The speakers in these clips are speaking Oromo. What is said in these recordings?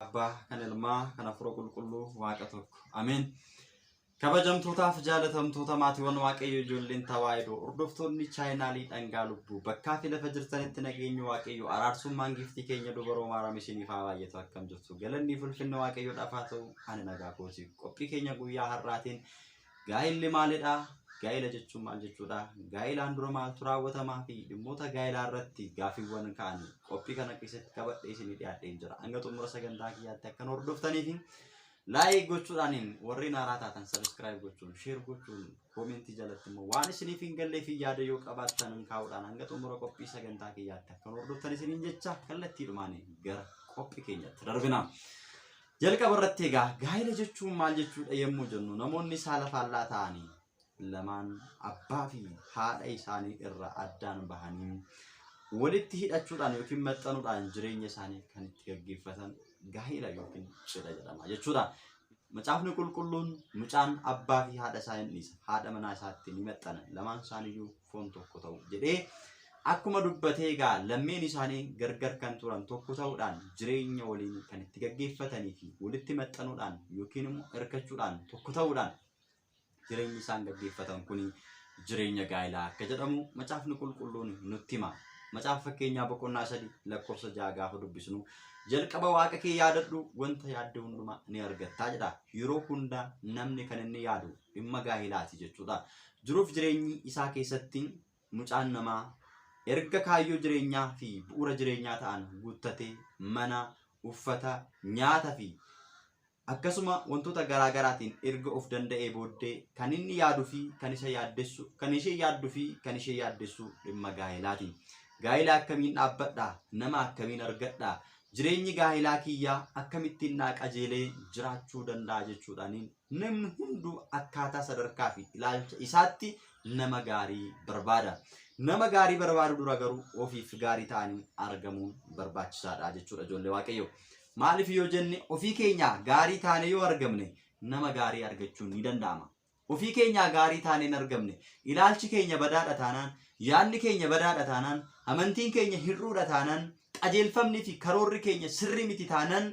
Abbaa, kan Ilmaa, kan Hafuura Qulqulluu Waaqa tokko. Ameen. Kabajamtootaaf jaalatamtoota maatiiwwan Waaqayyo ijoolleen tawaahidoo hordoftoonni chaayinaalii dhangaa lubbuu bakkaa fi lafa jirtanitti nageenyi Waaqayyo araarsummaan giiftii keenya dubaroo maaram isiniif haa baay'atu akkam jirtu galannii fulfinna Waaqayyo dhafaa ta'u ani nagaa kootiif qophii keenya guyyaa har'aatiin Gaa'illi maalidha? Gaa'ila jechuun maal jechuudha? Gaa'ilaan dura maaltu raawwatamaa fi dhimmoota gaa'ilaa irratti gaaffiiwwan ka'an qophii kana keessatti qabadhee isinii dhiyaadheen jira. Hanga xumura sagantaa kiyyaatti akka nu hordoftanii fi laayik gochuudhaan warreen haaraa taatan sabiskiraayib gochuun sheer gochuun koomentii jalatti immoo waan isiniif hin gallee fi yaada yoo qabaattan hin kaa'uudhaan hanga xumura qophii sagantaa kiyyaatti akka nu hordoftan isiniin jecha kallattiidhumaan gara qophii keenyatti darbina. Jalqaba irratti egaa gaa'ela jechuun maal jechuudha yommuu jennu namoonni saala faallaa ta'anii lamaan abbaa fi haadha isaanii irraa addaan bahanii walitti hidhachuudhaan yookiin maxxanuudhaan jireenya isaanii kan itti gaggeeffatan gaa'ela yookiin cidha jedhama jechuudha. Macaafni qulqulluun mucaan abbaa fi haadha isaa hin dhiisa. Haadha manaa isaatti ni maxxana. Lamaan isaaniiyyuu foon tokko ta'u jedhee akkuma dubbatee egaa lammeen isaanii gargar kan turan tokko ta'uudhaan jireenya waliin kan itti gaggeeffatanii fi walitti maxxanuudhaan yookiin immoo hirkachuudhaan tokko ta'uudhaan jireenyi isaan gaggeeffatan kun jireenya gaa'ilaa akka jedhamu macaafni qulqulluun nutti hima. Macaafa fakkeenyaa boqonnaa sadii lakkoofsa ja'a gaafa dubbisnu jalqaba waaqa kee yaadadhu wanta yaadde hundumaa ni argattaa jedha. Yeroo hundaa namni kan inni yaadu dhimma gaahilaati jechuudha. Jiruuf jireenyi isaa keessatti mucaan namaa erga kaayyoo jireenyaa fi bu'uura jireenyaa ta'an guuttatee mana, uffata, nyaata fi akkasuma wantoota garaa garaatiin erga of danda'ee booddee kan inni yaaduu fi kan isa yaaddessu kan ishee yaadduu fi kan ishee yaaddessu dhimma gaahilaati. Gaahila akkamiin dhaabbadha? Nama akkamiin argadha? Jireenyi gaahilaa kiyyaa akkamittiin naa qajeelee jiraachuu danda'a jechuudhaan Namni hunduu akkaataa sadarkaa fi ilaalcha isaatti nama gaarii barbaada. Nama gaarii barbaadu dura garuu ofiif gaarii ta'anii argamuun barbaachisaadha jechuudha ijoollee waaqayyo. Maaliif yoo jenne ofii keenyaa gaarii taanee yoo argamne nama gaarii argachuun ni danda'ama. Ofii keenyaa gaarii taanee hin argamne ilaalchi keenya badaadha taanaan, yaadni keenya badaadha taanaan, amantiin keenya hir'uudha taanaan, qajeelfamni fi karoorri keenya sirrii miti taanaan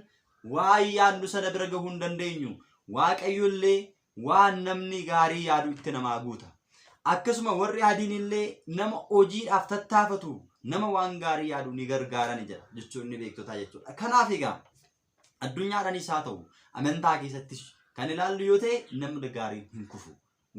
Waan yaadnu sana bira gahuu hin dandeenyu. Waaqayyo illee waan namni gaarii yaadu itti namaa guuta. Akkasuma warri adiin illee nama hojiidhaaf tattaafatu nama waan gaarii yaadu ni gargaarani jedha jechuun inni beektotaa jechuudha. Kanaaf egaa addunyaadhanis haa ta'u amantaa keessattis kan ilaallu yoo ta'e namni gaariin hin kufu.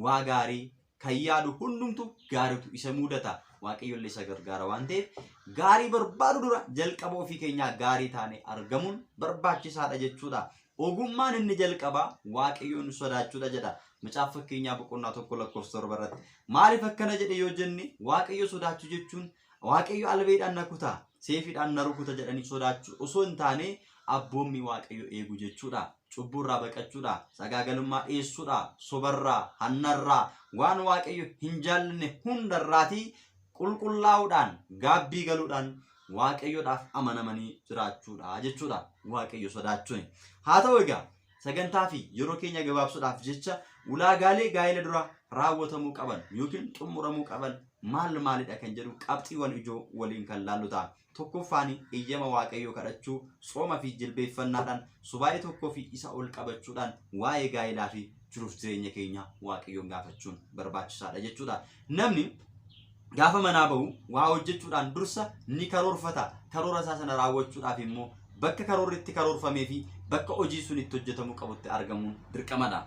waa gaarii kan yaadu hundumtu gaaritu isa muudata waaqayyolle isa gargaara waan ta'eef gaarii barbaadu dura jalqaba ofii keenyaa gaarii taane argamuun barbaachisaadha jechuudha. Ogummaan inni jalqabaa waaqayyoon sodaachuudha jedha. Macaaf fakkeenyaa boqonnaa tokko lakkoofsa torba irratti. Maaliif akkana jedhe yoo jenne waaqayyo sodaachuu jechuun Waaqayyo albeedhaan na kuta, seefiidhaan na rukuta jedhanii sodaachuu osoo hin taane abboommii Waaqayyo eegu jechuudha. Cubbuurraa baqachuudha, sagaagalummaa dhiyeessuudha, sobarraa, hannarraa, waan Waaqayyo hin jaallanne hundarraatii qulqullaa'uudhaan, gaabbii galuudhaan Waaqayyodhaaf amanamanii jiraachuudha jechuudha. Waaqayyo sodaachuun. Haa ta'u egaa Sagantaa fi yeroo keenya gabaabsuudhaaf jecha ulaagaalee gaa'ela dura raawwatamuu qaban yookiin xumuramuu qaban maal maalidha kan jedhu qabxiiwwan ijoo waliin kan laallu ta'a. Tokkoffaan eeyyama waaqayyoo kadhachuu, sooma fi jilbeeffannaadhaan, subaa'ee tokkoo fi isa ol qabachuudhaan waa'ee gaa'elaa fi jiruuf jireenya keenya waaqayyoon gaafachuun barbaachisaadha jechuudha. Namni Gaafa manaa ba'u waa hojjechuudhaan dursa ni karoorfata. Karoora isaa sana raawwachuudhaaf immoo bakka karoorri itti karoorfamee fi bakka hojiin sun itti hojjetamuu qabutti argamuun dirqamadha.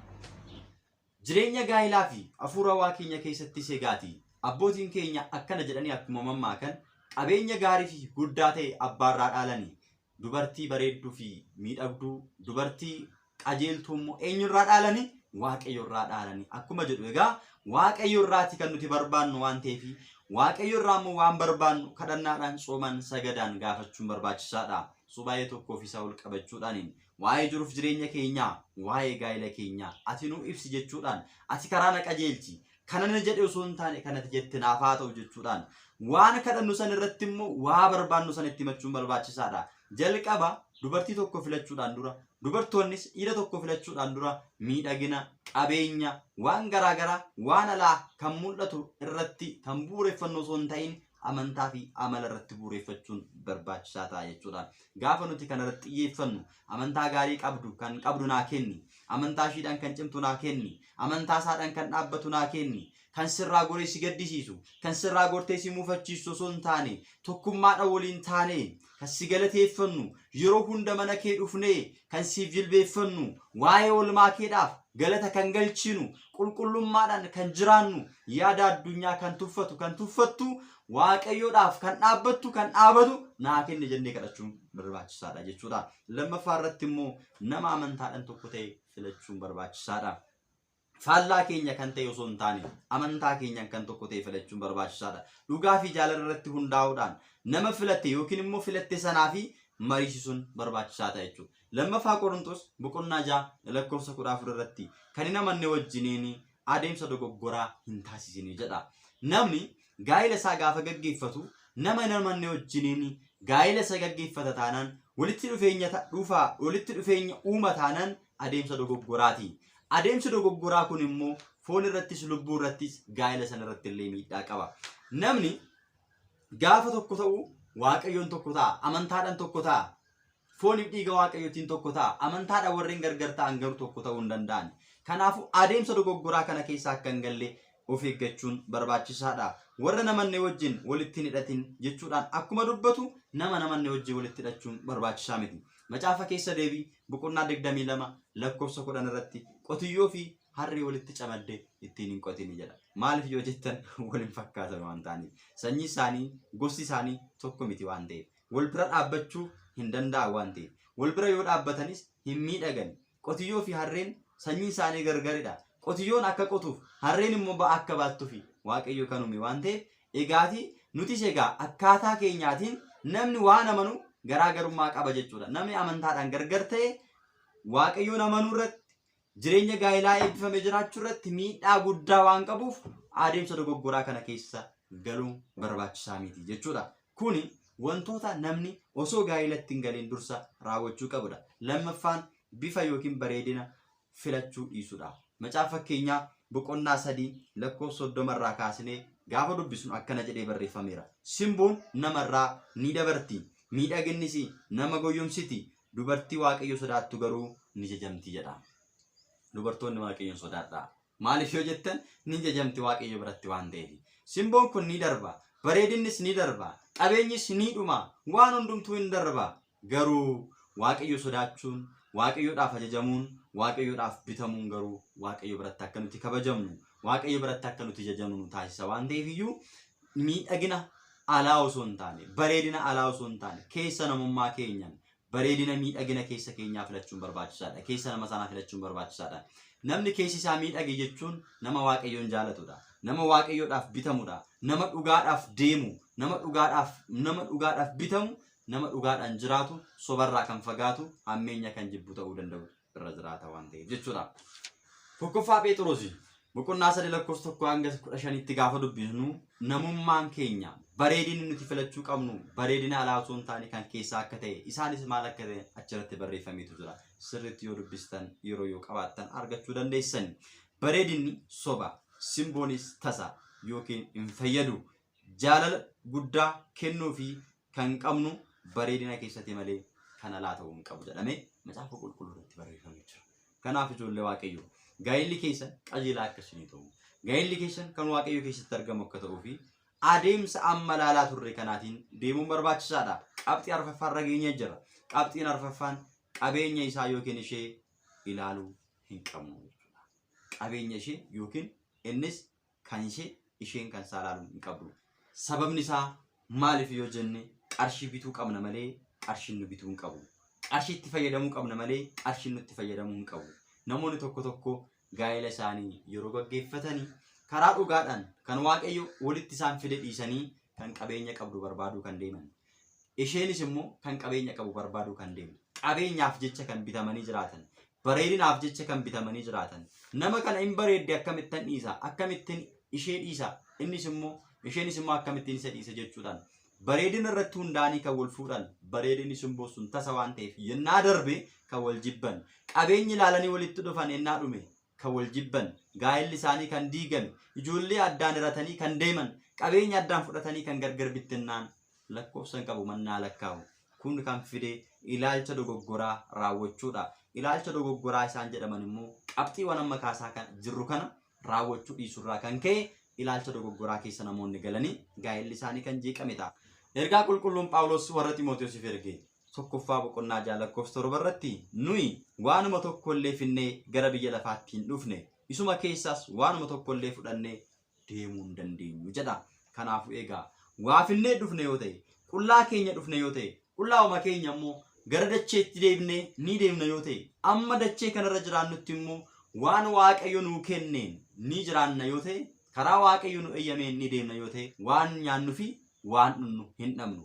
Jireenya gaa'ilaa fi hafuura waa keenya keessatti segaati. Abbootiin keenya akkana jedhanii akkuma mammaakan qabeenya gaarii fi guddaa ta'e abbaarraa dhaalani. dubartii bareedduu fi miidhagduu, dubartii qajeeltuu immoo eenyu irraa dhaalani? Waaqayyo irraa dhaalani. Akkuma jedhu egaa Waaqayyo irraati kan nuti barbaannu waan ta'eef Waaqayyo irraa immoo waan barbaannu kadhannaadhaan soomaan sagadaan gaafachuun barbaachisaadha. So baay'ee tokkoo fi isaa ol qabachuudhaaniin waa'ee jiruuf jireenya keenyaa, waa'ee gaa'ela keenyaa ati nuu ibsi jechuudhaan ati karaa na qajeelchi, kana na jedhe osoo hin taane kanati jette naaf haa ta'u jechuudhaan waan kadhannu san irratti immoo waa barbaannu san itti himachuun barbaachisaadha. Jalqaba dubartii tokko filachuudhaan dura dubartoonnis dhiira tokko filachuudhaan dura miidhagina, qabeenya, waan garaagaraa waan alaa kan mul'atu irratti kan bu'uureffannoo osoo hin ta'in amantaa fi amala irratti bu'uureffachuun barbaachisaa ta'a jechuudha. Gaafa nuti kana irratti xiyyeeffannu amantaa gaarii qabdu kan qabdu naa kenni, amantaa ishiidhaan kan cimtu naa kenni, amantaa isaadhaan kan dhaabbatu naa kenni, kan sirraa goree si gaddisiisu, kan sirraa gortee si muufachiisu osoo hin taane tokkummaadhaan waliin taanee kan si galateeffannu, yeroo hunda mana kee dhufnee kan siif jilbeeffannu, waa'ee olmaa keedhaaf galata kan galchinu, qulqullummaadhaan kan jiraannu, yaada addunyaa kan tuffatu, kan tuffattu, waaqayyoodhaaf kan dhaabbattu, kan dhaabatu naa kenni jennee kadhachuun barbaachisaadha jechuudha. Lammaffaa irratti immoo nama amantaadhaan tokko ta'e filachuun barbaachisaadha. faallaa keenya kan ta'e osoo hin taane amantaa keenyaan kan tokko ta'e filachuun barbaachisaadha. Dhugaa fi jaalala irratti hundaa'uudhaan nama filatte yookiin immoo filatte sanaa fi mariisisuun barbaachisaa ta'a jechuudha. Lammaffaa Qorintos boqonnaa ja'a lakkoofsa kudha afur irratti kan hin amanne wajjiniin adeemsa dogoggoraa hin taasisine jedha. Namni gaa'ila isaa gaafa gaggeeffatu nama hin amanne wajjiniin gaa'ila isa gaggeeffata taanaan walitti dhufeenya ta- dhufa walitti dhufeenya uuma taanaan adeemsa dogoggoraati. Adeemsi dogoggoraa kun immoo foon irrattis lubbuu irrattis gaa'ila sana irratti illee miidhaa qaba. Namni gaafa tokko ta'u waaqayyoon tokko ta'a amantaadhaan tokko ta'a Fooniif dhiiga Waaqayyootiin tokko ta'a. Amantaadhaan warreen gargar ta'an garuu tokko ta'uu hin danda'an. Kanaafuu adeemsa dogoggoraa kana keessa akka hin galle of eeggachuun barbaachisaadha. Warra namanne wajjin walitti hin hidhatin jechuudhaan akkuma dubbatu nama namanne wajjin walitti hidhachuun barbaachisaa miti. Macaafa keessa deebii boqonnaa 22 lakkoofsa 10 irratti qotiyyoo fi harree walitti camadde ittiin hin qotini jedha. Maaliif yoo jettan wal hin fakkaatan waan ta'aniif. Sanyii isaanii, gosti isaanii tokko miti waan ta'eef. wal bira dhaabbachuu hin danda'an waan ta'eef wal bira yoo dhaabbatanis hin miidhagani. Qotiyyoo fi harreen sanyiin isaanii gargaridha. Qotiyyoon akka qotuuf harreen immoo ba'aa akka baattufi waaqayyo kan uume waan ta'eef egaati nutis egaa akkaataa keenyaatiin namni waan amanu garaa garummaa qaba jechuudha. Namni amantaadhaan gargar ta'e waaqayyoon amanuu irratti Jireenya gaa'ilaa eebbifame jiraachuu irratti miidhaa guddaa waan qabuuf adeemsa dogoggoraa kana keessa galuun barbaachisaa miti jechuudha. Kuni wantoota namni osoo gaa'ilatti hin galiin dursa raawwachuu qabudha. Lammaffaan bifa yookiin bareedina filachuu dhiisudha. Macaafa fakkeenyaa boqonnaa sadii lakkoofsa soddoma irraa kaasnee gaafa dubbisnu akkana jedhee barreeffameera. Simboon namarraa ni dabarti, miidhaginnis nama goyyomsiti, Dubartii Waaqayyo sodaattu garuu ni jajamti jedha. Dubartoonni Waaqayyoon sodaadhaa. Maaliif yoo jettan ni jajamti Waaqayyo biratti waan ta'eef. Simboon kun ni darba, bareedinnis ni darba, qabeenyis ni dhuma, waan hundumtuu hin darba. Garuu Waaqayyo sodaachuun, Waaqayyoodhaaf ajajamuun, Waaqayyoodhaaf bitamuun garuu Waaqayyo biratti akka nuti kabajamnu, Waaqayyo biratti akka nuti jajamnu nu taasisa waan ta'eef iyyuu miidhagina alaa osoo hin taane, bareedina alaa osoo hin taane, keessa namummaa keenyaan bareedina miidhagina keessa keenyaa filachuun barbaachisaadha. Keessa nama sanaa filachuun barbaachisaadha. Namni keessi isaa miidhage jechuun nama waaqayyoon jaalatudha. Nama waaqayyoodhaaf bitamudha. Nama dhugaadhaaf deemu, nama dhugaadhaaf nama dhugaadhaaf bitamu, nama dhugaadhaan jiraatu, sobarraa kan fagaatu, hammeenya kan jibbu ta'uu danda'udha. irra jiraata waan ta'eef jechuudha. Tokkoffaa Pheexiroosi boqonnaa sadii lakkoofsa tokko hanga kudha shanitti gaafa dubbisnu namummaan keenya bareedinni nuti filachuu qabnu bareedina alaa osoo hin taane kan keessaa akka ta'e isaanis maal akka ta'e achirratti barreeffameetu jira. Sirriitti yoo dubbistan yeroo yoo qabaattan argachuu dandeessan. Bareedinni soba simboonis tasa yookiin hin fayyadu. Jaalala guddaa kennuu fi kan qabnu bareedina keessatti malee kan alaa ta'uu hin qabu jedhamee macaafa qulqulluu irratti barreeffamee jira. Kanaaf ijoollee waaqayyoo gaa'illi keessan qajeelaa akka isinii ta'u gaa'illi keessan kan waaqayyo keessatti argamu akka ta'uu fi adeemsa amma ilaalaa turre kanaatiin deemuun barbaachisaadha. Qabxii arfaffaa irra geenyee jira. Qabxiin arfaffaan qabeenya isaa yookiin ishee ilaaluu hin qabnu jechuudha. Qabeenya ishee yookiin innis kan ishee isheen kan isaa ilaaluu hin qabdu. Sababni isaa maaliif yoo jenne qarshii bituu qabna malee qarshiin nu bituu hin qabu. Qarshiitti fayyadamuu qabna malee qarshiin nutti fayyadamuu hin qabu. Namoonni tokko tokko gaa'ela isaanii yeroo gaggeeffatanii karaa dhugaadhaan kan waaqayyo walitti isaan fide dhiisanii kan qabeenya qabdu barbaaduu kan deeman. Isheenis immoo kan qabeenya qabu barbaaduu kan deemtu. Qabeenyaaf jecha kan bitamanii jiraatan. Bareedinaaf jecha kan bitamanii jiraatan. Nama kana hin bareedde akkamittan dhiisa? Akkamittin ishee dhiisa? Innis immoo isheenis immoo akkamittiin isa dhiisa jechuudhaan. Bareedina irratti hundaa'anii kan wal fuudhan. Bareedinni simboo sun tasa waan ta'eef yennaa darbe kan wal jibban. Qabeenyi ilaalanii walitti dhufan yennaa dhume kan wal jibban, gaa'elli isaanii kan diigame, ijoollee addaan hiratanii kan deeman, qabeenya addaan fudhatanii kan gargar bittinnaan lakkoofsa hin qabu mannaa lakkaa'u. Kun kan fide ilaalcha dogoggoraa raawwachuudha. Ilaalcha dogoggoraa isaan jedhaman immoo qabxiiwwan amma kaasaa kan jirru kana raawwachuu dhiisurraa kan ka'e ilaalcha dogoggoraa keessa namoonni galanii gaa'elli isaanii kan jeeqame ta'a. Ergaa qulqulluun Phaawulos warra Ximootiyoosiif erge tokkoffaa boqonnaa ja'a lakkoofsa torba irratti nuyi waanuma tokko illee finnee gara biyya lafaatti hin dhufne isuma keessaas waanuma tokko illee fudhannee deemuu hin dandeenyu jedha. Kanaafuu egaa waa finnee dhufne yoo ta'e qullaa keenya dhufne yoo ta'e qullaa'uma keenya immoo gara dacheetti deebinee ni deemna yoo ta'e amma dachee kanarra jiraannutti immoo waan waaqayyo nuu kenneen ni jiraanna yoo ta'e karaa waaqayyo nu eeyyameen ni deemna yoo ta'e waan nyaannu fi waan dhunnu hin dhabnu.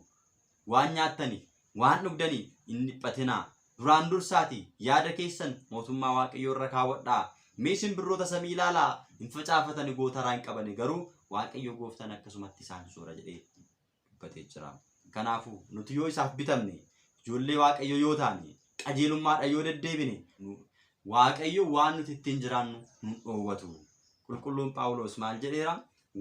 waan nyaattaniif, waan dhugdaniif hin dhiphatinaa. Duraan dursaatii yaada keessan mootummaa Waaqayyoo irra kaawwadhaa. Mee simbirroota samii ilaalaa, hin facaafatani, gootaraa hin qabani, garuu Waaqayyo gooftaan akkasumatti isaan soora jedhee dubbatee jira. Kanaafuu nuti yoo isaaf bitamne, ijoollee Waaqayyoo yoo taane, qajeelummaadhaan yoo deddeebine, nu- Waaqayyo waan nuti ittiin jiraannu nu dhoowwatu. Qulqulluun Phaawulos maal jedheera?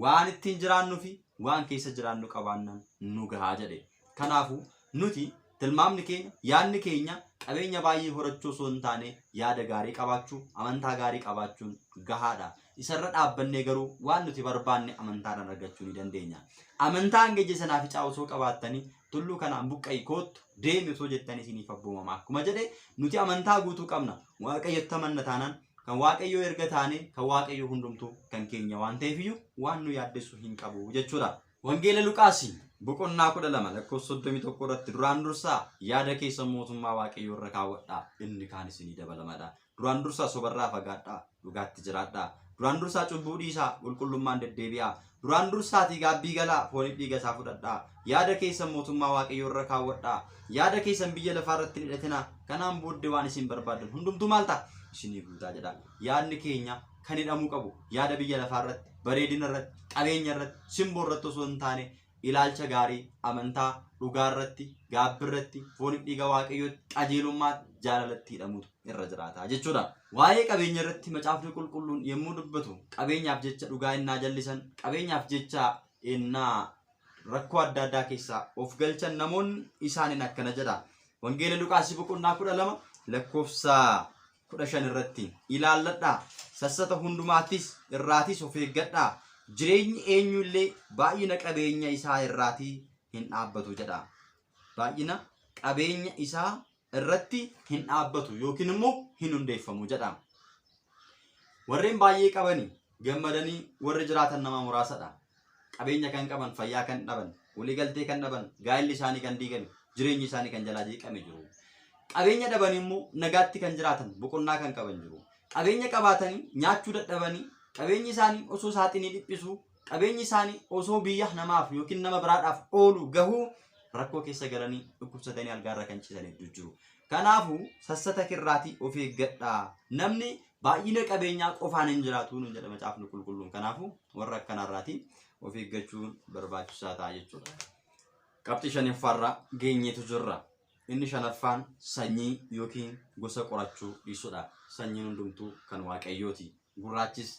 waan ittiin jiraannu fi waan keessa jiraannu qabaannaan nu gahaa jedhe. Kanaafu nuti tilmaamni keenya, yaadni keenya qabeenya baay'ee horachuu osoo hin taane yaada gaarii qabaachuu, amantaa gaarii qabaachuun gahaadha. Isarra dhaabbannee garuu waan nuti barbaanne amantaadhaan argachuu ni dandeenya. Amantaa hanga ija sanaa ficaa osoo qabaattanii tulluu kanaan buqqa'i koottu deemi osoo jettanii isiniif abboomama akkuma jedhe nuti amantaa guutuu qabna waaqayyotti amanna taanaan kan waaqayyoo erga taane kan waaqayyoo hundumtuu kan keenya waan ta'eefiyyuu waan nu yaaddessu hin qabu jechuudha. Wangeela Luqaasii boqonnaa kudha lama lakkoofsa soddomii tokko irratti duraan dursaa yaada keessan mootummaa waaqayyoo irra kaawwadhaa inni kaan isinii dabalamadha. Duraan dursaa sobarraa fagaadhaa, dhugaatti jiraadhaa. Duraan dursaa cubbuu dhiisaa, qulqullummaan deddeebi'aa. Duraan dursaatii gaabbii galaa, fooniif dhiiga isaa fudhadhaa. Yaada keessan mootummaa Waaqayyoo irra kaawwadhaa. Yaada keessan biyya lafaa irratti hin hidhatinaa. Kanaan booddee waan isin barbaaddan hundumtuu maal ta'a? Isinii guutaa jedha. Yaadni keenya kan hidhamuu qabu yaada biyya lafaa irratti, bareedina irratti, qabeenya irratti, simboo irratti osoo hin taane ilaalcha gaarii, amantaa, dhugaarratti, gaabbirratti, foonif dhiiga waaqayyootti, qajeelummaatti, jaalalatti hidhamuutu irra jiraata jechuudha. Waa'ee qabeenya irratti macaafni qulqulluun yommuu dubbatu qabeenyaaf jecha dhugaa innaa jallisan, qabeenyaaf jecha innaa rakkoo adda addaa keessaa of galchan namoonni isaaniin akkana jedha. Wangeela Luqaasii boqonnaa kudha lama lakkoofsa kudha shan irratti ilaalladhaa sassata hundumaattis irraatis of eeggadhaa jireenyi eenyu illee baay'ina qabeenya isaa irraatii hin dhaabbatu jedha baay'ina qabeenya isaa irratti hin dhaabbatu yookiin immoo hin hundeeffamu jedha warreen baay'ee qabanii gammadanii warri jiraatan nama muraasadha. Qabeenya kan qaban, fayyaa kan dhaban, waliigaltee kan dhaban, gaa'illi isaanii kan diigame, jireenyi isaanii kan jalaa jeeqame jiru. Qabeenya dhabanii immoo nagaatti kan jiraatan, boqonnaa kan qaban jiru. Qabeenya qabaatanii nyaachuu dadhabanii, qabeenyi isaanii osoo saaxinii dhiphisuu, qabeenyi isaanii osoo biyya namaaf yookiin nama biraadhaaf oolu gahuu rakkoo keessa galanii dhukkubsatanii algaarra kan ciisan hedduu jiru. Kanaafuu sassataka irraatii of eeggadhaa. Namni baay'ina qabeenyaa qofaan hin jiraatu nu jedha macaafni qulqulluun. Kanaafuu warra akkanaa irraatii of eeggachuun barbaachisaa ta'a jechuudha. Qabxii shanaffaarra geenyeetu jirra. Inni shanaffaan sanyii yookiin gosa qorachuu dhiisudha. Sanyiin hundumtuu kan waaqayyooti. Gurraachis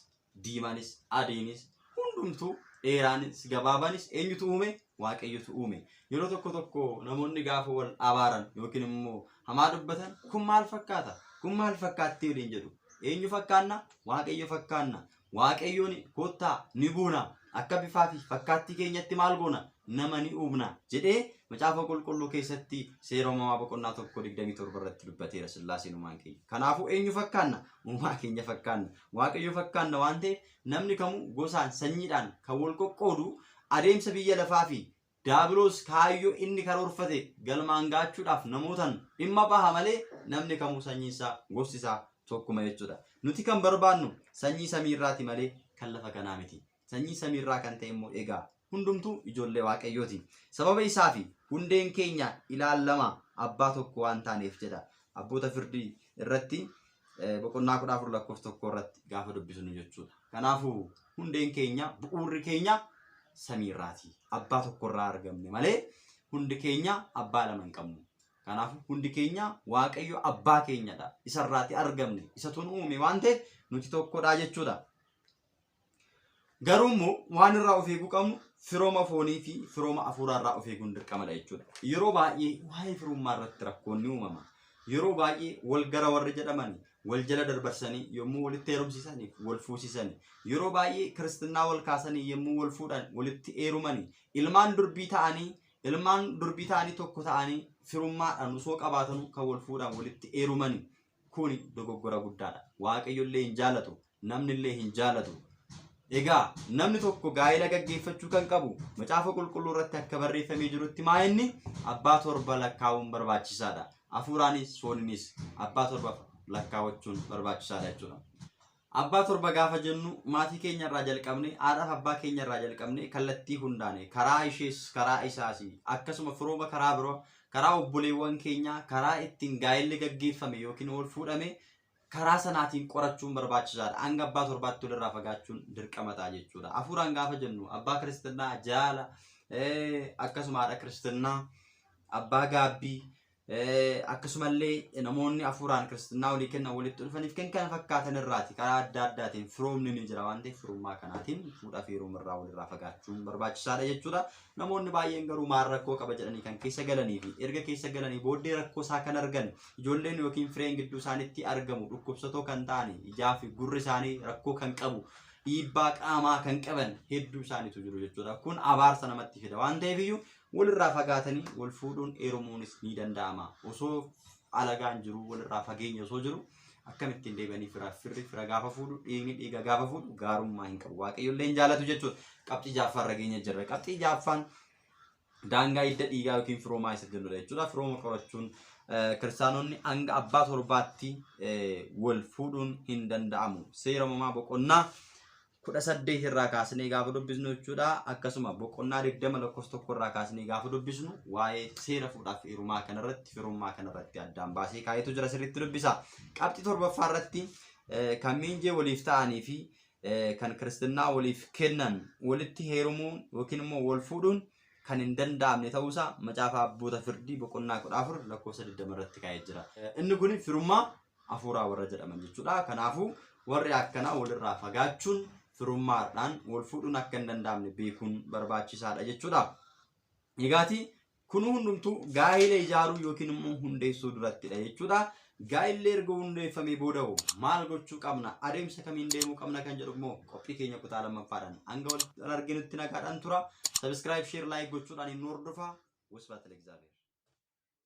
diimanis, adiinis, hundumtuu dheeraanis, gabaabaanis eenyutu uume? Waaqayyotu uume. Yeroo tokko tokko namoonni gaafa wal abaaran yookiin immoo hamaa dubbatan kun maal fakkaata? Kun maal fakkaatti waliin jedhu. Eenyu fakkaanna? Waaqayyo fakkaanna. Waaqayyoon koottaa ni buuna. Akka bifaa fi fakkaattii keenyatti maal goona? Nama ni uumna jedhee macaafa qulqulluu keessatti seera uumamaa boqonnaa tokko digdamii torba irratti dubbateera sillaaseen uumaan keenya. Kanaafuu eenyu fakkaanna? Uumaa keenya fakkaanna. Waaqayyo fakkaanna waan ta'eef namni kamuu gosaan, sanyiidhaan kan wal qoqqoodu adeemsa biyya lafaa fi daabiloos kaayyoo inni karoorfate galmaan gaachuudhaaf namootan dhimma baha malee namni kamuu sanyiin isaa gosti isaa tokkuma jechuudha. Nuti kan barbaannu sanyii samii irraati malee kan lafa kanaa miti. Sanyii samii irraa kan ta'e immoo egaa hundumtuu ijoollee Waaqayyooti. Sababa isaa fi hundeen keenya ilaallama abbaa tokko waan taaneef jedha. Abboota firdii irratti eh, boqonnaa kudha afur lakkoofsa tokko irratti gaafa dubbisnu jechuudha. Kanaafuu hundeen keenya bu'uurri keenya samii irraati. Abbaa tokko irraa argamne malee hundi keenya abbaa lama hin qabnu. Kanaafuu hundi keenya Waaqayyo abbaa keenyadha. Isarraati argamne. Isatu nu uume waan ta'eef nuti tokkodha jechuudha. Garuu immoo waan irraa of eeguu qabnu firooma foonii fi firooma afuuraa irraa of eeguun dirqamadha jechuudha. Yeroo baay'ee waa'ee firummaa irratti rakkoon ni uumama. Yeroo baay'ee wal gara warri jedhaman wal jala darbarsanii yommuu walitti heerumsiisanii wal fuusisanii yeroo baay'ee kiristinnaa wal kaasanii yommuu wal fuudhan walitti heerumanii ilmaan durbii ta'anii ilmaan durbii ta'anii tokko ta'anii firummaadhaan osoo qabaatanuu kan wal fuudhan walitti heerumanii kuni dogoggora guddaadha. Waaqayyo illee hin jaalatu. namnillee hin jaalatu. Egaa namni tokko gaa'ela gaggeeffachuu kan qabu macaafa qulqulluu irratti akka barreeffamee jirutti maa inni abbaa torba lakkaa'uun barbaachisaadha. Hafuuraanis fooninis abbaa torba lakkaa'achuun barbaachisaadha jechuudha. Abbaa torba gaafa jennu maatii keenya irraa jalqabne haadhaaf abbaa keenya irraa jalqabne kallattii hundaane karaa ishees karaa isaas akkasuma firooma karaa biroo karaa obboleewwan keenyaa karaa ittiin gaa'elli gaggeeffame yookiin ol fuudhame karaa sanaatiin qorachuun barbaachisaadha. Hanga abbaa torbaatti walirraa fagaachuun dirqama ta'a jechuudha. Hafuuraan gaafa jennu abbaa kiristinnaa jaala eh, akkasuma haadha kiristinnaa abbaa gaabbii eh, akkasumallee namoonni hafuuraan kiristinnaa walii kennan walitti dhufaniif kan kana fakkaatan irraati karaa adda addaatiin firoomni ni jira waan ta'eef firummaa kanaatiin fuudhaa fi heerumaa irraa walirraa fagaachuun barbaachisaadha jechuudha. Namoonni baay'een garuu maal rakkoo qaba jedhanii kan keessa galanii fi erga keessa galanii booddee rakkoo isaa kan argan ijoolleen yookiin fireen gidduu isaanitti argamu dhukkubsatoo kan ta'an ijaa fi gurri isaanii rakkoo kan qabu dhiibbaa qaamaa kan qaban hedduu isaaniitu jiru jechuudha. Kun abaarsa namatti fida waan ta'eef iyyuu walirraa fagaatanii wal fuudhuun heerumuunis ni danda'ama. Osoo alagaan jiru walirraa fageenya osoo jiru Akkam ittiin deebi'anii firaaf firri fira gaafa fuudhu dhiigni dhiiga gaafa fuudhu gaarummaa hin qabu. Waaqayyo illee hin jaalatu jechuudha. Qabxii jaaffaa irra geenya jirra. Qabxii jaaffaan daangaa hidda dhiigaa yookiin firoomaa isa jennudha jechuudha. Firooma qorachuun eh, kiristaanonni hanga abbaa torbaatti eh, wal fuudhuun hin danda'amu. Seera uumamaa boqonnaa kudha saddeet irraa kaasnee gaafa dubbisnu jechuudha. Akkasuma boqonnaa digdama lakkoofsa tokko irraa kaasnee gaafa dubbisnu waa'ee seera fuudhaaf heerumaa kanarratti firummaa kanarratti addaan baasee kaayetu jira sirriitti dubbisa. Qabxii torbaffaa irratti eh, kan miinjee waliif ta'anii fi eh, kan kiristinnaa waliif kennan walitti heerumuun yookiin immoo wal fuudhuun kan hin danda'amne ta'uusaa macaafa abboota firdii boqonnaa kudha afur lakkoofsa digdama irratti kaa'ee jira. Eh, Inni kun firummaa hafuuraa warra jedhaman jechuudha. Kanaafuu warri akkanaa walirraa fagaachuun firummaadhaan wal fuudhuun akka hin danda'amne beekuun barbaachisaadha jechuudha. Egaati kun hundumtuu gaa'ila ijaaruu yookiin immoo hundeessuu durattidha jechuudha. Gaa'illi erga hundeeffamee booda hoo maal gochuu qabna? Adeemsa kamiin deemuu qabna kan jedhu immoo qophii keenya kutaa lammaffaadhaan hanga wal arginutti nagaadhaan tura. Sabiskiraayib, sheer, laayik gochuudhaan hin hordofaa. Wasbaat Alexander.